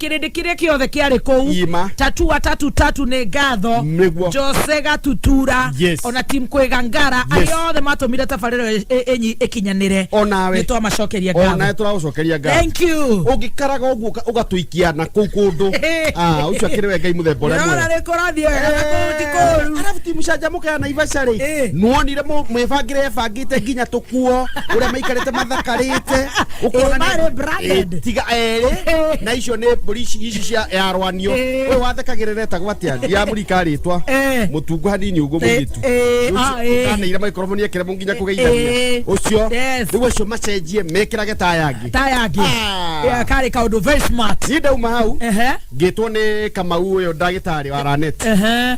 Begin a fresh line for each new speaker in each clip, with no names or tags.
kĩrĩndĩ kĩrĩa kĩothe kĩarĩ kũu Ima. tatua tatu tatu nĩ ngatho Nĩguo. jose gatutura Yes. ona tim kwĩga ngara Yes. arĩa othe matũmire tabarĩro ĩ- ĩ- ĩnyi ĩkinyanĩre O nawe. nĩ
twamacokeria onae
ngatho tũragũcokeria ngatho
thank you ũngĩkaraga
ũguo ũka-
ũgatũikia na kũu kũndũ Ah, ũcio akĩrĩ we ngai mũthemba ũrĩa Ndĩrona mwega. nĩkũrathiĩ wega
na kũu ti kũru. Eh, arabu ti mũcanjamũke
ya naivaca Eh. rĩ nuonire mũ- mwĩbangĩre ebangĩte nginya tũkuo ũrĩa maikarĩte mathakarĩte Ũkona nĩ- Marĩ
branded. Eh, tiga erĩ
na icio nĩ mbũri ici ici cia yarwanio Eh. ũyũ wathekagĩrĩra etagwo atĩa ndiramũrika rĩtwa Eh. mũtungu hanini ũguo Eh, mũirĩtu eh, Rĩu ah, eh. ũkanĩire maikoroboni ekĩre mũ nginya kũgeithania Eh. ũcio Yes. rĩu acio macenjie mekĩrage ta yangĩ ta yangĩ Ah. Eh, karĩ kaũndũ very
smart niĩ ndauma hau ehe
ngĩtwo nĩ kamau ũyũ ndagĩtarĩ wa raneti ehe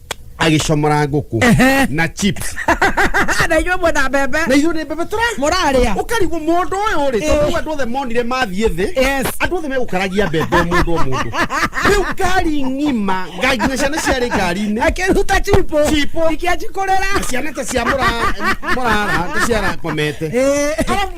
agĩcomora ngũkũ Ehe. na chips na inyuĩ
mwena mbembe na ithuĩ nĩ mbebe tũra
mũrarĩa ũkarigwo
mũndũ ũyũ
rĩ tondũ rĩu andũ othe monire mathiĩ thĩ Yes. andũ othe megũkaragia mbembe o mũndũ o mũndũ rĩu ngari ng'ima ngari nginya ciana ciarĩ ngari-inĩ akĩruta chipo
Chipo. ikĩanjikũrĩra ciana ta cia mũra-
mũrara ta ciarakomete Eh. Arabu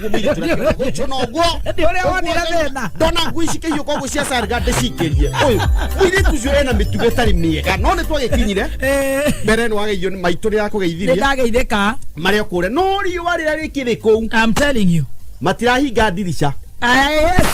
guo mwiri turekera guco no guo Nĩ ũrĩa wonire
thĩna. ndona ngui cikĩhiũka
ũguo cia sarga ndĩcikĩrie ũyũ mwiri tucio ena mĩtugo ĩtarĩ mĩega no nĩ twagĩkinyire Eh, mbere nĩ wageithio nĩ maitũ rĩra nĩ kũgeithirie ndageithĩka
marĩa kũrĩa no
riũa rĩrĩa rĩkĩrĩ kũu
I'm
telling you
matirahinga
ndirica Ah, yes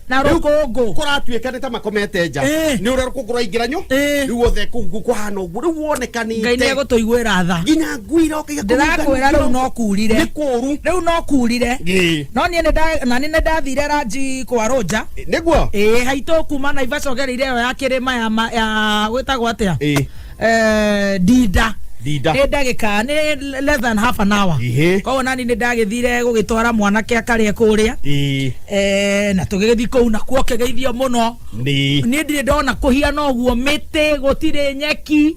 na Rĩu rũkũngũ kũratuĩka nĩ ta
makomete nja Eh. nĩ ũrĩa rũkũngũ rwaingĩra nyo Eh. rĩu othe kũu kũhana ũguo rĩu woneka nĩ ngai nĩ egũtũiguĩra
tha nginya ngui iroka
igakũhunga ndĩrakwĩra rĩu no
kurire nĩ kũũru rĩu no
kurire
Ĩĩ. no niĩ nĩnda- na nĩ nĩndathire ranji kwa rũnja nĩguo ĩĩ
haitũ kuma
naivasha ũgereire ĩyo ya kĩrĩma ya ma- ya gwĩtagwo atĩa Ĩĩ. Eh, ndinda Ndinda. nĩ ndagĩka nĩ less than half an hour Ihĩ. koguo nani nĩ ndagĩthire gũgĩtwara mwanake akarĩa kũrĩa Ĩĩ. Eh, na tũgĩgĩthiĩ kũu nakuo kĩgeithio mũno Nĩ. niĩ ndirĩ ndona kũhiana ũguo mĩtĩ gũtirĩ nyeki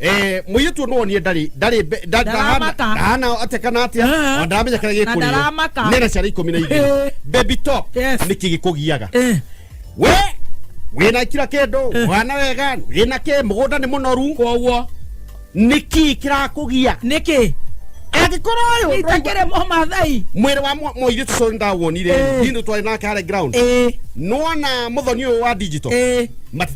Eh, muiritu no nie ndari ndari mbe- nda- Ndaramaka. ndahana- ndahana atia kana atia Eh. ona ndaramenya kana Na gikurio ndaramaka. nena ciara ikumi na Eh. igiri baby top Yes. niki gikugiaga Eh, we wina kira kindu Eh. wana wega wina ki mugunda ni munoru koguo
niki
kirakugia nĩkĩ
angikorwo uyu
itakĩrĩ
mũmathai mwiri wa mwa- muiritu
cio ndawonire Eh. ndindu twari nake hare ground Eh, nona muthoni uyu wa digital eh. Mati-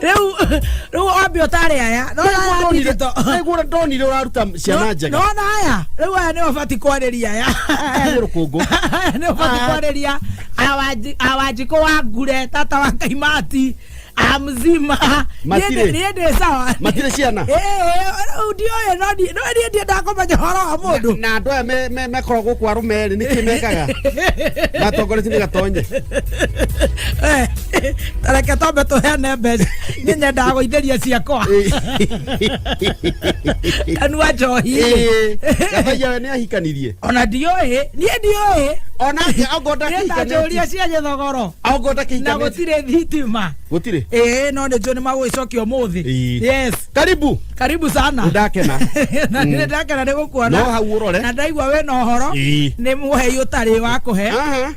rĩu rĩu wambe ũtarĩ aya no ya ndigito nĩguo
ndonire ũraruta ciana njega nona aya
rĩu
aya
nĩo bati kwarĩria aya aya nĩ rũkũngũ aya
nĩo bati Ah.
kwarĩria awanji- awanjikũ wa ngure tata wa kaimati amzima Matirĩ. niĩ ndĩ sawa matirĩ ciana Eh, eh,
rĩu
ndioĩ no ndi- no niĩ ndiĩ ndakomenya ũhoro wa mũndũ na andå aya me- me-
mekoragwo gå kwa rå merä nä kä mekaga gatongoretie nä gatonye Eh,
reke twambe tũheane mbeca nĩ nyendaga gũithĩria ciakwa kanua njohi gathaia
we nä ahikanirie ona ndiũĩ
niĩ ndiũĩ onake ongo
niĩ ndanjũria cia
gĩthogoro ongo na ndakĩhikanä
gũtirĩ
thitima gå tirä ĩĩ
no nĩ njũĩ nĩ
magũgĩcokia ũmũthĩ Ĩĩ. yes karibu karibu sana Ndakena.
na nĩ ndakena
nĩ gũkuona No hau ũrore. na
ndaigua wĩ na ũhoro
Ĩĩ. nĩ mũhei ũtarĩ wa kũhe Aha.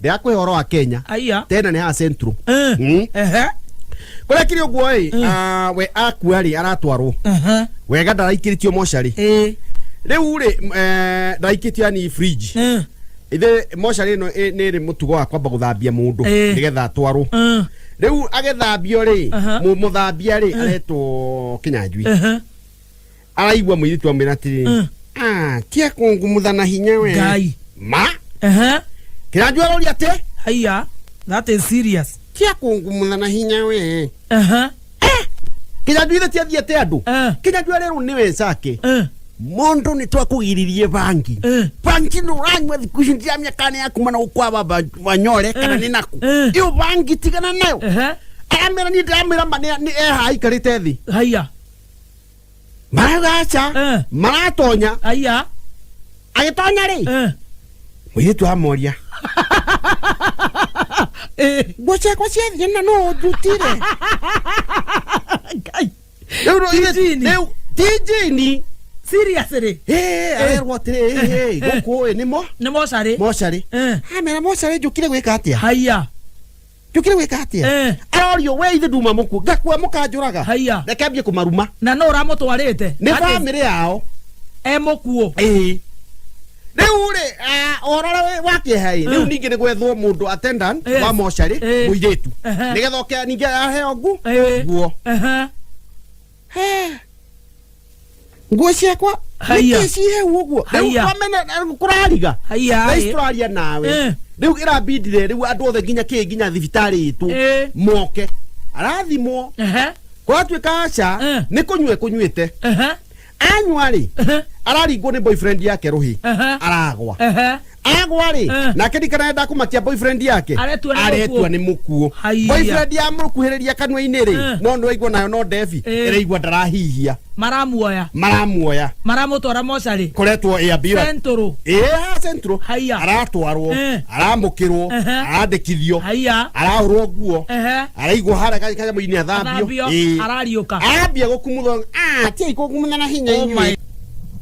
ndirakuhe horo
wa kenya Aya. tena ni ha
central
Eh. Mm. Ehe. kuria kiri uguo ri we akua ri aratwarwo Aha. wega ndaraikĩritio mocarĩ Eh. rĩu rĩ eh, ndaraikĩtio yani fridge Eh. ithe mocarĩ ĩno ĩ- nĩ rĩ mũtugo wa kwamba gũthambia mũndũ Eh. nĩgetha atwarwo Eh. rĩu agĩthambio rĩ Aha. mũ- mũthambia rĩ aretwo kĩnyanjui Ehe. araigua mũirĩtu amwĩra atĩrĩ Mm. "Ah, tia kũngumutha na hinya we ngai ma Aha. kĩranjua aroria atĩ haya
that is serious tia kũngumutha
na hinya we Aha. kĩranjua ithe tiathiĩ atĩ andũ Eh. kĩranjua arerwo nĩ wecake Eh. mũndũ nĩ twakũgiririe bangi Eh. bangi nĩ ũranyua thikũ ici ndia mĩaka nĩ yaku mana gũkwaba banyore kana Eh. nĩ naku Eh. ĩyo bangi tigana nayo Aha. aramera niĩ ndĩramera ma nĩ eha aikarĩte thĩ haya
maragaca
Eh. maratonya aya
agĩtonya
rĩ eh, mũirĩtu amoria eh, nguo ciakwa ciathiĩ na no ndutire ngai Rĩu no- ithe- Tijini. rĩu- tijini seriously
Eh, arerwo
atĩrĩ eh, eh, gũkũ ĩ nĩ mo nĩ mocarĩ mocarĩ Eh, amera mocarĩ njũkire gwĩka atĩa aya
njũkĩre wĩka
atĩa Eh. arorio we ithe nduma mũkuo ngakua mũkanjũraga Haiya. reke ambie kũmaruma na no ũramũtwarĩte
nĩ Ati, bamĩrĩ yao
e mũkuo
Ĩĩ.
rĩu rĩ ah, ũhoro ũrĩa wa kĩeha ĩ rĩu Eh. ningĩ nĩ gwethwo mũndũ attendant Eh. wa mocarĩ Eh. mũirĩtu Ehe. nĩgetha oke ningĩ aheo ngu Eh. nguo Ehe. nguo ciakwa Haiya. nĩkĩ cihe ũguo Haiya. rĩu kũrariga Haiya, Thaa ici ĩ. tũraria Eh. nawe rĩu ĩrambindire rĩu andũ othe nginya kĩ nginya thibitarĩ itũ Eh. moke arathimwo Ehe, gwatuĩka aca Eh. nĩ kũnyua kũnyuĩte ehe, anyua rĩ ehe, araringwo nĩ boyfriend yake rũhĩ Aha. aragwa ehe. agwa rĩ Eh. nake ndikanarenda kumakia boyfriend yake Aretua nĩ aretua mũkuũ. nĩ mũkuo Haiya. boyfriend ya mũkuhĩrĩria kanua-inĩ rĩ Eh. no nĩ waigua nayo no ndebi Eh. ĩraigua ndarahihia maramuoya
maramuoya maramũtwara mocarĩ koretwo ĩ ambira
centũrũ ĩya
centro
Haiya. aratwarwo Eh. aramũkĩrwo Ehe. arandĩkithio haiya arahũrwo nguo ehe araigua harĩa ka- kanyamũ-inĩ athambio athambio Ĩĩ. arariũka ambia
gũkumutha
atiai kũkumutha na hinya Oh inyuĩ my